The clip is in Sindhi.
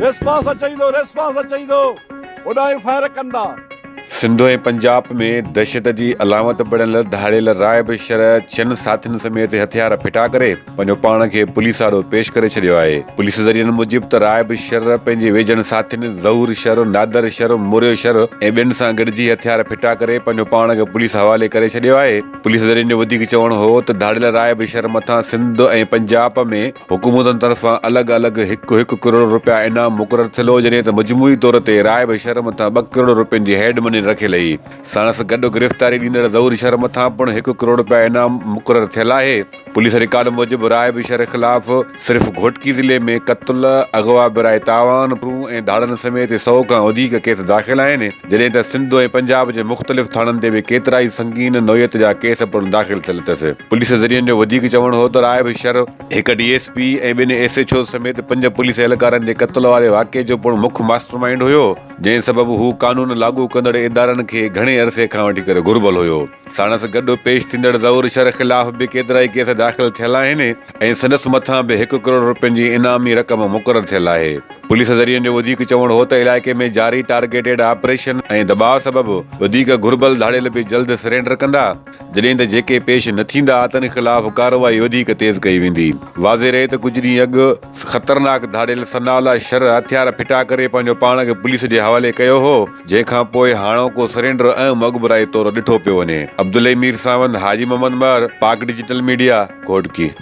ريسپانس اچي ويندو ريسپانس اچي ويندو اوڏانهن ئي فائر ڪندا سنڌ ۽ پنجاب ۾ دهشت جي علامت بڻيل ڌاڙيل راهب شرح ڇهن ساٿين سميت هٿيار ڦٽا ڪري پنهنجو پاڻ کي پوليس آڏو پيش ڪري ڇڏيو آهي. پوليس ذريعن موجب ته رائب شر پنهنجي ويجهن ساٿين ظهور شر، نادر شر، موريو شر ۽ ٻين سان گڏجي هٿيار ڦٽا ڪري پنهنجو پاڻ کي پوليس حوالي ڪري ڇڏيو آهي. پوليس ذريعن جو وڌيڪ چوڻ هو ته ڌاڙيل رائب شر مٿان سنڌ ۽ پنجاب ۾ حڪومتن طرفان الڳ الڳ هڪ هڪ ڪروڙ رپيا انعام مقرر ٿيل هو جڏهن ته مجموعي طور تي رائب شر مٿان ٻه ڪروڙ رپين جي هيڊ مني رکيل هئي. ساڻس گڏ گرفتاري ڏيندڙ ظهور شر مٿان پڻ هڪ ڪروڙ رپيا انعام مقرر ٿيل آهي. پوليس رڪارڊ موجب رائب شر خلاف صرف گهوٽڪي ضلعي ۾ قتل، اغوا برائي تاوان، ڦرون ۽ ڌاڙن سميت سؤ کان وڌيڪ ڪيس داخل آهن، جڏهن ته سنڌ ۽ پنجاب جي مختلف ٿاڻن تي به ڪيترائي سنگين نوعيت جا ڪيس پڻ داخل ٿيل اٿس. پوليس ذريعن جو وڌيڪ چوڻ هو ته رائب شر هڪ ڊي ايس پي ۽ ٻن ايس ايڇ اوز سميت پنج پوليس اهلڪارن جي قتل واري واقعي جو پڻ مک ماسٽر مائينڊ هيو، جنهن سبب هو قانون لاڳو ڪندڙ ادارن کي گهڻي عرصي کان وٺي ڪري گهربل هيو. ساڻس گڏ پيش ٿيندڙ ظهور شر خلاف به ڪيترائي ڪيس داخل ٿيل آهن ۽ سندس مٿان به هڪ ڪروڙ رپين جي انعامي رقم مقرر ٿيل آهي. پوليس ذريعن جو وڌيڪ چوڻ هو ته علائقي ۾ جاري ٽارگيٽيڊ آپريشن ۽ دٻاء سبب وڌيڪ گهربل ڌاڙيل به جلد سرينڊر ڪندا، جڏهن ته جيڪي پيش نه ٿيندا تن خلاف ڪارروائي وڌيڪ تيز ڪئي ويندي. واضح رهي ته ڪجهه ڏينهن اڳ خطرناڪ ڌاڙيل ثناء الله شرح هٿيار ڦٽا ڪري پنهنجو پاڻ کي پوليس جي حوالي ڪيو هو، جنهن کان پوء هاڻوڪو سرينڊر اهم اڳڀرائي طور ڏٺو پيو وڃي. عبدالحي ميرساوند، حاجي محمد مهر، پاڪ ڊجيٽل ميڊيا، گهوٽڪي.